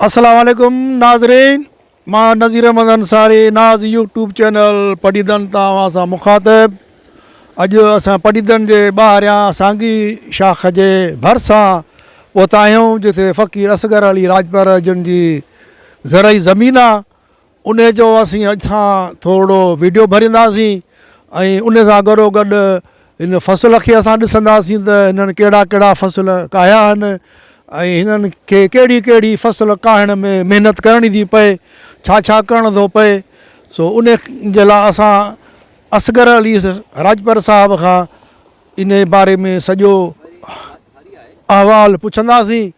السلام عليڪم ناظرين مان نظير احمد انصاري ناز يوٽيوب چينل پڊيدن تان اوهان سان مخاطب اڄ اسان پڊيدن جي ٻاهريان سانگي شاخ جي ڀرسان پهتا آهيون جتي فقير اصغر علي راڄپر جن جي زرعي زمين آهي انهي جو اسين اڄ کان ٿورڙو ويڊيو ڀرينداسين ۽ انهي سان گڏو گڏ هن فصل کي اسان ڏسنداسين ته هنن ڪهڙا ڪهڙا فصل ڪاهيا آهن ۽ هنن کي ڪهڙي ڪهڙي فصل ڪاهڻ ۾ محنت ڪرڻي ٿي پئي ڇا ڇا ڪرڻ ٿو پئي سو انهي جي لاء اسان اصغر علي راڄپر صاحب کان انهي باري ۾ سڄو احوال پڇنداسين.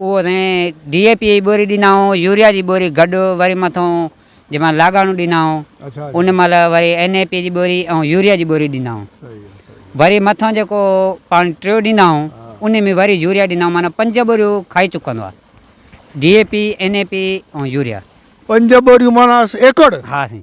اهو اسين ڊي اي پي جي ٻوري ڏيندا آهيون يوريا جي ٻوري گڏ وري مٿون جنهن مهل لاڳاڻو ڏيندا آهيون ان مهل وري اين اي پي جي ٻوري ۽ يوريا جي ٻوري ڏيندا آهيون وري مٿون جيڪو پاڻ ٽيو ڏيندا آهيون ان ۾ وري يوريا ڏيندا آهيون معنيٰ پنج ٻوريون کائي چڪندو آهي D A P N A P ۽ urea. پنج ٻوريون معنيٰ ايڪڙ؟ ها سائين.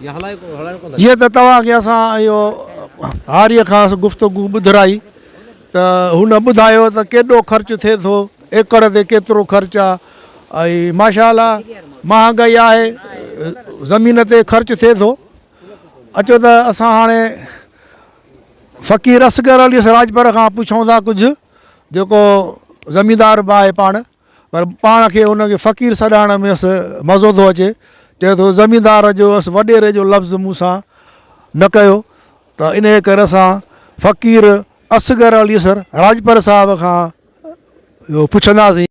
جيئن ته توهان کي اسان اهو هاريء کان گفتگو ٻڌرائي ته هن ٻڌايو ته ڪيڏو خرچ ٿئي ٿو، ايڪڙ تي ڪيترو خرچ آ ۽ ماشاء الله مهانگائي آهي زمين تي خرچ ٿئي ٿو. اچو ته اسان هاڻي فقير اصغر علي سراجپر کان پڇون ٿا ڪجهه جيڪو زميندار به آهي پاڻ. پر پاڻ کي ان کي فقير سڏائڻ ۾ اس مزو ٿو اچي. چئي ٿو زميندار جو اس وڏيري جو لفظ مون سان نه ڪيو ته انهيء ڪري اسان فقير اصغر علي سر راڄپر صاحب کان اهو پڇنداسين.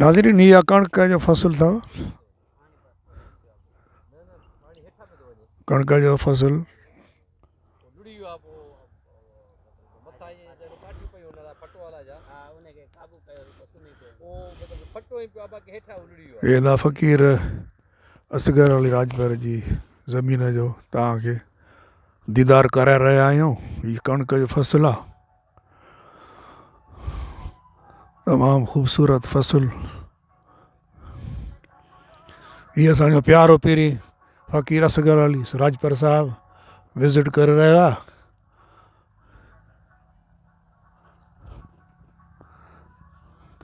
ناظرين هي اڪڻڪ جو فصل اٿو. ڪڻڪ جو فصل ادا فقير اصغر علي راڄپر جي زمين جو توهان کي ديدار ڪرائي رهيا آهيون هي ڪڻڪ جو فصل آهي تمام خوبصورت فصل هي اسان جو پيارو پيري فقير اصغر علي راڄپر صاحب وزٽ ڪري رهيو آ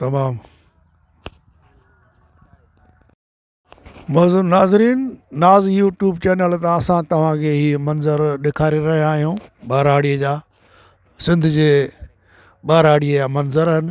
تمام معزز ناظرين ناز يوٽيوب چينل تان اسان توهان کي هي منظر ڏيکاري رهيا آهيون ٻهراڙي جا سنڌ جي ٻهراڙي جا منظر آهن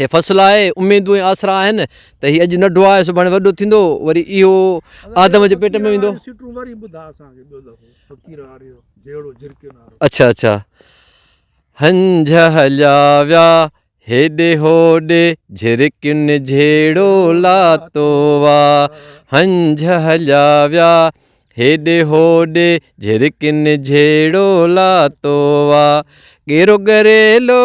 هي فصل آهي اميدون ۽ آسرا آهن ته هي اڄ ننڍو آهي سڀاڻي وڏو ٿيندو وري اهو آدم جي پيٽ ۾ ويندو اچھا اچھا هنج هليا ويا هيڏي هوڏي جھرڪين جھيڙو لاتو وا هنج هليا ويا هيڏي هوڏي جھرڪين جھيڙو لاتو وا ڪيرو گريلو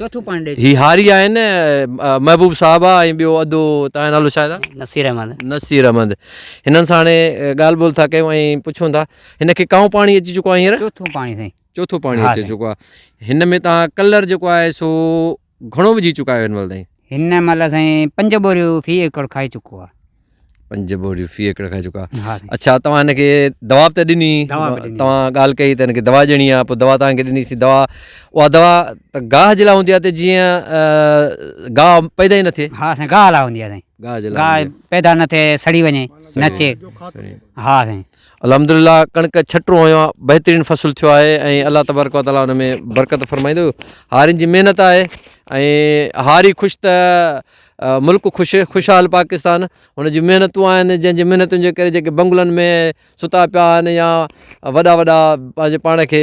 چوٿون پوائنٽ هي هاري آهن محبوب صاحب آ ۽ ٻيو ادو تنهنجو نالو شايد آ نصير احمد نصير احمد هنن سان هاڻي ڳالهه ٻولهه ٿا ڪيون ۽ پڇون ٿا هن کي ڪائون پاڻي اچي چڪو آ هينئر چوٿون پاڻي سائين چوٿون پاڻي اچي چڪو آ هن ۾ تان ڪلر جيڪو آهي سو گهڻو وجهي چڪا آهيو هن مهل تائين هن مهل سائين پنج بوريون في ايڪڙ کائي چڪو آ پنج بوريون في ايڪڙ کان چڪا ها سائين. اچھا توهان هن کي دوا به ته ڏني دوا به ڏني. توهان ڳالهه ڪئي ته هن کي دوا ڏيڻي آهي پوء دوا توهان کي ڏنيسي دوا اها دوا ته گاهه جي لاء هوندي آهي ته جيئن آه، گاهه پيدا ئي نه ٿئي ها سائين گاهه لا هوندي آهي سائين گاهه جي لاء گاهه هوندي پيدا نه ٿئي سڙي وڃي سڙي نچي آهي. ها سائين الحمدلله ڪڻڪ ڇٽون هنيو آهي بهترين فصل ٿيو آهي ۽ الله تبارڪ و تعالٰي ان ۾ برڪت فرمائيندو هارين جي محنت آهي ۽ هاري خوش ته ملڪ خوش خوشحال پاڪستان هن جي محنتون آهن جنهن جي محنتن جي ڪري جيڪي بنگلن ۾ ستا پيا آهن يا وڏا وڏا پنهنجي پاڻ کي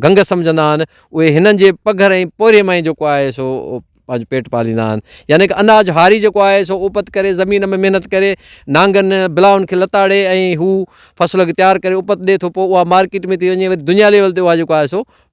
گنگ سمجھندا آهن اهي هنن جي پگهر ۽ پورهيي مان ئي جيڪو آهي سو پنهنجو پيٽ پاليندا آهن يعني ڪه اناج هاري جيڪو آهي سو اوپت ڪري زمين ۾ محنت ڪري نانگن بلاون کي لتاڙي ۽ هو فصل کي تيار ڪري اوپت ڏي ٿو پوء اها مارڪيٽ ۾ ٿي وڃي وري دنيا ليول تي اها جيڪو آهي سو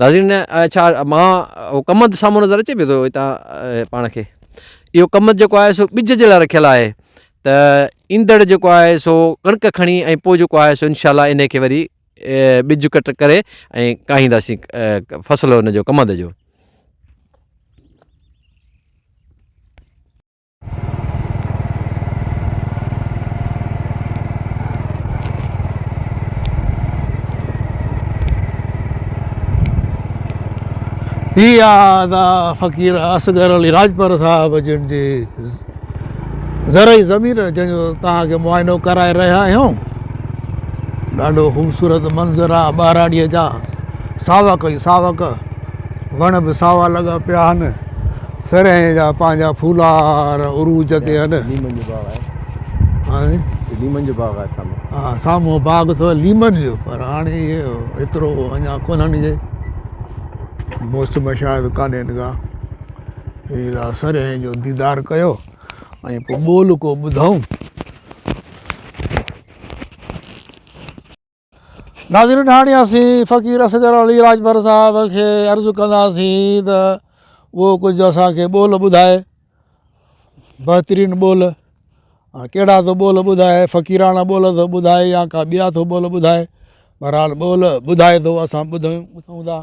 ناظرين ڇا مان اهو ڪمند سامهون نظر اچي پيو ٿو هتان پاڻ کي اهو ڪمند جيڪو آهي سو ٻج جي لاء رکيل آهي ته ايندڙ جيڪو آهي سو ڪڻڪ کڻي ۽ پوء جيڪو آهي سو انشاء الله ان کي وري ٻج ڪٽ ڪري ۽ کائينداسين فصل ان جو ڪمند جو هي آهي فقير اصغر علي راڄپر صاحب جن جي زرعي زمين جنهن جو توهان کي معائنو ڪرائي رهيا آهيون ڏاڍو خوبصورت منظر آهي ٻهراڙيء جا ساوڪ ئي ساوڪ وڻ به ساوا لڳا پيا آهن سرهين جا پنهنجا ڦولار عروج تي هن. ليمن جو باغ آهي. هاني. هي ليمن جو باغ آهي سامهون. ها سامهون باغ اٿو ليمن جو پر هاڻي ايترو اڃا ڪونهن جي موسم شايد ڪانهن ڪا. هي سرهين جو ديدار ڪيو ۽ پوء ٻولهه ڪو ٻڌائون. ناظرين هاڻي اسين فقير اصغر علي راڄپر صاحب کي عرض ڪنداسين ته اهو ڪجهه اسان کي ٻول ٻڌائي بهترين ٻول هاڻي ڪهڙا ٿو ٻول ٻڌائي فقيراڻا ٻول ٿو ٻڌائي يا ڪا ٻيا ٿو ٻول ٻڌائي بهرحال ٻول ٻڌائي ٿو اسان ٻڌون ٻڌون ٿا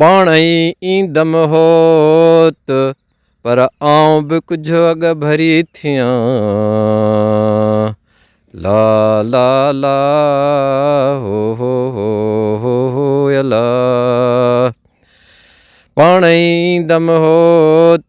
پاڻ ئي ايندم هوت پر آئون به ڪجهه اڳ ڀري ٿيان لا لا لا هو هو هو هو هو الا پاڻ ئي ايندم هوت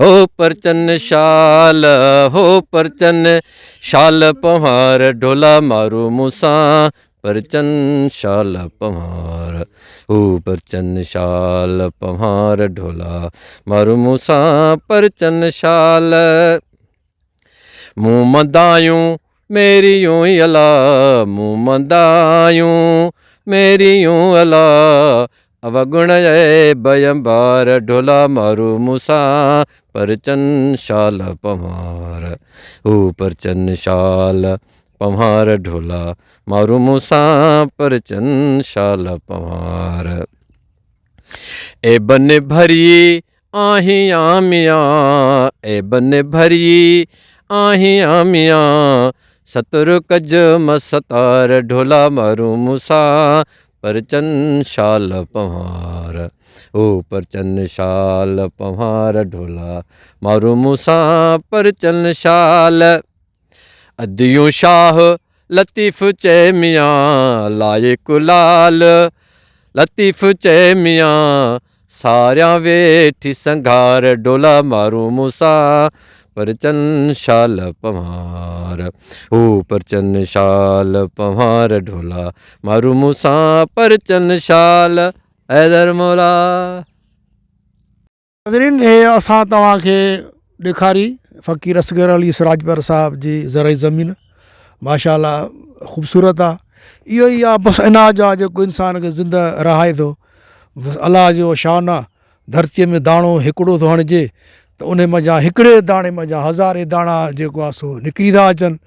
هو پرچن شال هو پرچن شال پنهار ڍولا مارو مون سان پرچن شال پنهار هو پرچن شال پنهار ڍولا مارو مون سان پرچن شال مون مدايون ميريون الا مون مندايون ميريون الا اوگڻ عيب انبار ڍولا مارو مون سان پرچن شال پنوار هو پرچن شال پنوار ڍولا مارو مون سان پرچن شال پنوار اي بن ڀري آهين آ ميان اي بن ڀريي آهين آ ميان ستر ڪج م ستار ڍولا مارون مون سان پرچن شال پنهار او پرچن شال پنهار ڍولا مارون مون سان پرچن شال. اديون شاهه لطيف چئي ميان لائق لال لطيف چئي ميان ساريان ويٺي سنگهار ڊولا مارون مون سان پرچن شال پنهار هو پرچن شال پنهار ڊولا مارون مون سان پرچن شال حيدر مولا ناظرين هي اسان توهان کي ڏيکاري فقير اصغر علي سراجپر صاحب جي زرعي زمين ماشاء الله خوبصورت آ اهو ئي آ بس اناج آ جيڪو انسان کي زنده رهائي ٿو بس الله جو شان آ ڌرتي ۾ داڻو هڪڙو ٿو هڻجي ته ان منجهان هڪڙي داڻي منجهان هزارين داڻا جيڪو آ سو نڪري ٿا اچن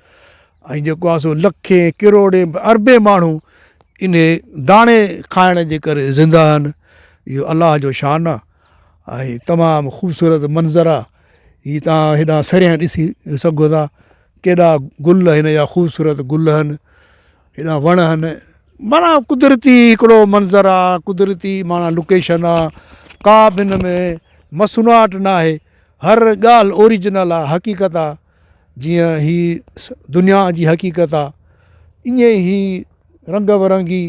۽ جيڪو آ سو لکين ڪروڙين اربين ماڻهو انهي داڻي کائڻ جي ڪري زنده آهن اهو الله جو شان آ ۽ تمام خوبصورت منظر آ هي توهان هيڏانهن سريان ڏسي سگهو ٿا ڪيڏا گل هن يا خوبصورت گل هن هيڏانهن وڻ هن معنيٰ قدرتي هڪڙو منظر آ قدرتي معنيٰ لوڪيشن آ ڪا به هن ۾ مصنوعات ناهي هر ڳالهه اوريجنل آ حقيقت آ جيئن هي دنيا جي حقيقت آ ايئن ئي هي رنگ برنگي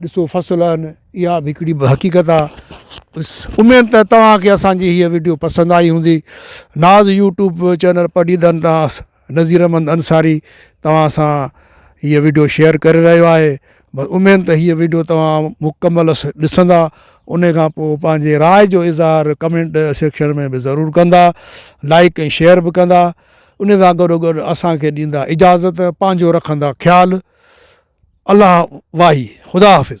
ڏسو فصل آهن اها به هڪڙي حقيقت آ بس اميد ته توهانکي اسانجي هي وڊيو پسند آئي هوندي ناز يوٽيوب چينل پڊيدن تان نظير احمد انصاري توهان سان هي وڊيو شيئر ڪري رهيو آهي بس اميد ته هيء وڊيو توهان مڪمل ڏسندا انهي کان پوء پنهنجي راء جو اظهار ڪمينٽ سيڪشن ۾ به ضرور ڪندا لائيڪ ۽ شيئر به ڪندا انهي سان گڏو گڏ اسان کي ڏيندا اجازت پنهنجو رکندا خيال الله واهي خدا حافظ.